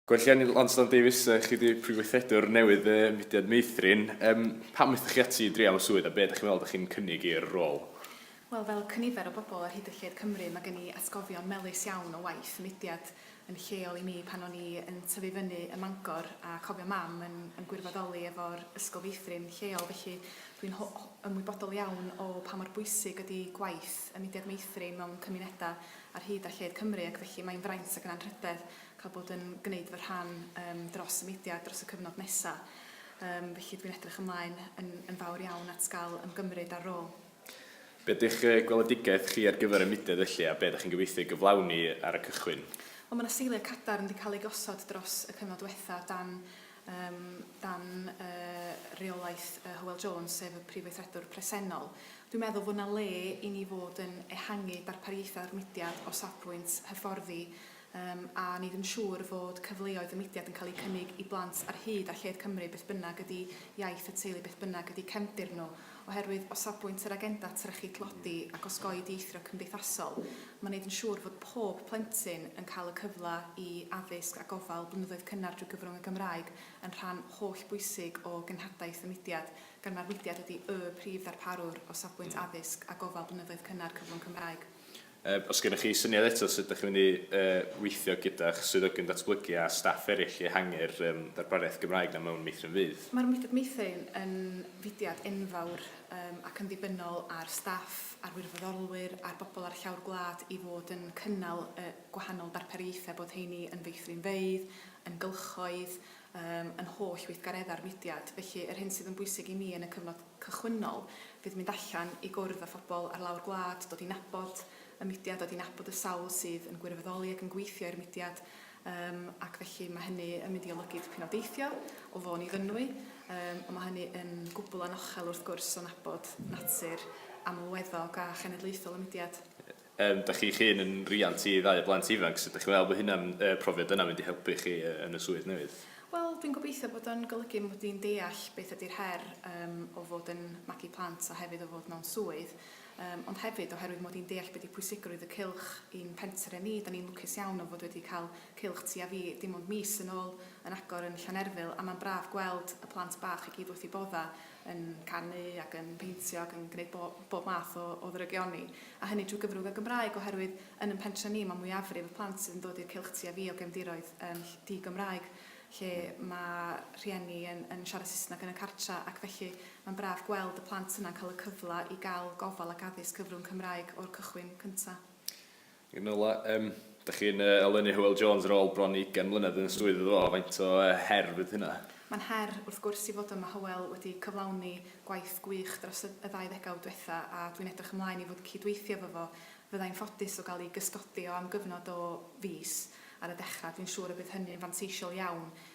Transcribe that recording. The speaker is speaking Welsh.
Gwelliannau Lansdowne Davies, yy chi 'di Prif Weithredwr newydd y mudiad Meithrin. Yym pam aethoch chi ati i dreial y swydd a be' 'dach chi'n meddwl 'dach chi'n cynnig i'r rôl? Wel, fel cynifer o bobl ar hyd y lled Cymru, mae gen i atgofion melys iawn o waith y mudiad yn lleol i mi pan o'n i yn tyfu fyny ym Mangor a chofio Mam yn yn gwirfoddoli efo'r Ysgol Feithrin lleol felly dwi'n ho- ho- ymwybodol iawn o pa mor bwysig ydi gwaith y mudiad Meithrin mewn cymunedau ar hyd a lled Cymru ac felly mae'n fraint ac yn anrhydedd ac a bod yn gwneud fy rhan yym dros y mudiad dros y cyfnod nesa'. Yym felly dwi'n edrych ymlaen yn yn fawr iawn at gael ymgymryd â'r rôl. Be ydych yy gweledigaeth chi ar gyfer y mudiad felly a be ydych chi'n gobeithio ei gyflawni ar y cychwyn? Wel ma' 'na seiliau cadarn 'di cael eu gosod dros y cyfnod dwetha' dan yym dan yy reolaeth yy Hywel Jones sef y Prif Weithredwr presennol. Dwi'n meddwl fod 'na le i ni fod yn ehangu darpariaethau'r mudiad o safbwynt hyfforddi Yym, a ni ddim siŵr fod cyfleoedd y mudiad yn cael eu cynnig i blant ar hyd a lled Cymru beth bynnag ydy iaith y teulu beth bynnag ydy cefndir nhw, oherwydd o safbwynt yr agenda trechu tlodi ac osgoi dieithrio cymdeithasol mae neud yn siŵr fod pob plentyn yn cael y cyfle i addysg a gofal blynyddoedd cynnar drwy gyfrwng y Gymraeg yn rhan holl bwysig o genhadaeth y mudiad gan mae'r mudiad ydy y prif ddarparwr o safbwynt addysg a gofal blynyddoedd cynnar cyfrwng Cymraeg. Os gennych chi syniad eto sut dych chi'n mynd i weithio gyda'ch swyddogion datblygu a staff eraill i ehangu'r ddarpariaeth Gymraeg 'na mewn meithrin fydd. Mae'r meithrin yn fudiad enfawr ac yn ddibynnol ar staff, ar wirfoddolwyr, ar bobl ar llawr gwlad i fod yn cynnal y gwahanol darpariaethau, bod rheiny yn feithrinfeydd, yn gylchoedd, Ym yn holl weithgareddau'r mudiad, felly yr hyn sydd yn bwysig i mi yn y cyfnod cychwynnol fydd mynd allan i gwrdd â phobl ar lawr gwlad, dod i nabod y mudiad, dod i nabod y sawl sydd yn gwirfoddoli ac yn gweithio i'r mudiad yym ac felly mae hynny yn mynd i olygu tipyn o deithio o Fôn i Fynwy yym ond mae hynny yn gwbl anochel wrth gwrs o nabod natur amlweddog a chenedlaethol y mudiad. Yym, dach chi'ch hun yn riant i ddau o blant ifanc, sut dach chi'n meddwl bod hynna'n, y profiad yna'n mynd i helpu chi yn y swydd newydd? Wel, dwi'n gobeithio bod o'n golygu mod i'n deall beth ydy'r her yym o fod yn magu plant a hefyd o fod mewn swydd, yym ond hefyd oherwydd mod i'n deall be 'di pwysigrwydd y cylch i'n pentre ni, 'dan ni'n lwcus iawn o fod wedi cael cylch ti a fi dim ond mis yn ôl yn agor yn Llanerfyl a ma'n braf gweld y plant bach i gyd wrth 'u bodda yn canu ac yn peintio ac yn gwneud bo- bob math o o ddrygioni a hynny trwy gyfrwng y Gymraeg oherwydd yn yn pentre ni mae mwyafrif y plant sydd yn dod i'r cylch ti a fi o gefndiroedd yn ll- di-Gymraeg lle mae rhieni yn yn siarad Saesneg yn y cartre ac felly mae'n braf gweld y plant yna'n cael y cyfle i gael gofal ac addysg cyfrwng Cymraeg o'r cychwyn cynta'. Yn ola, yym, dych chi'n yy olynu Hywel Jones ar ôl bron i ugain mlynedd yn y swydd iddo fo, faint o yy her fydd hynna? Mae'n her, wrth gwrs, i fod yma, Hywel wedi cyflawni gwaith gwych dros y ddau ddegawd dwetha a dwi'n edrych ymlaen i fod yn cyd-weithio efo fo. Fyddai'n ffodus o gael ei gysgodi o am gyfnod o fis ar y dechra, dwi'n siŵr y bydd hynny'n fanteisiol iawn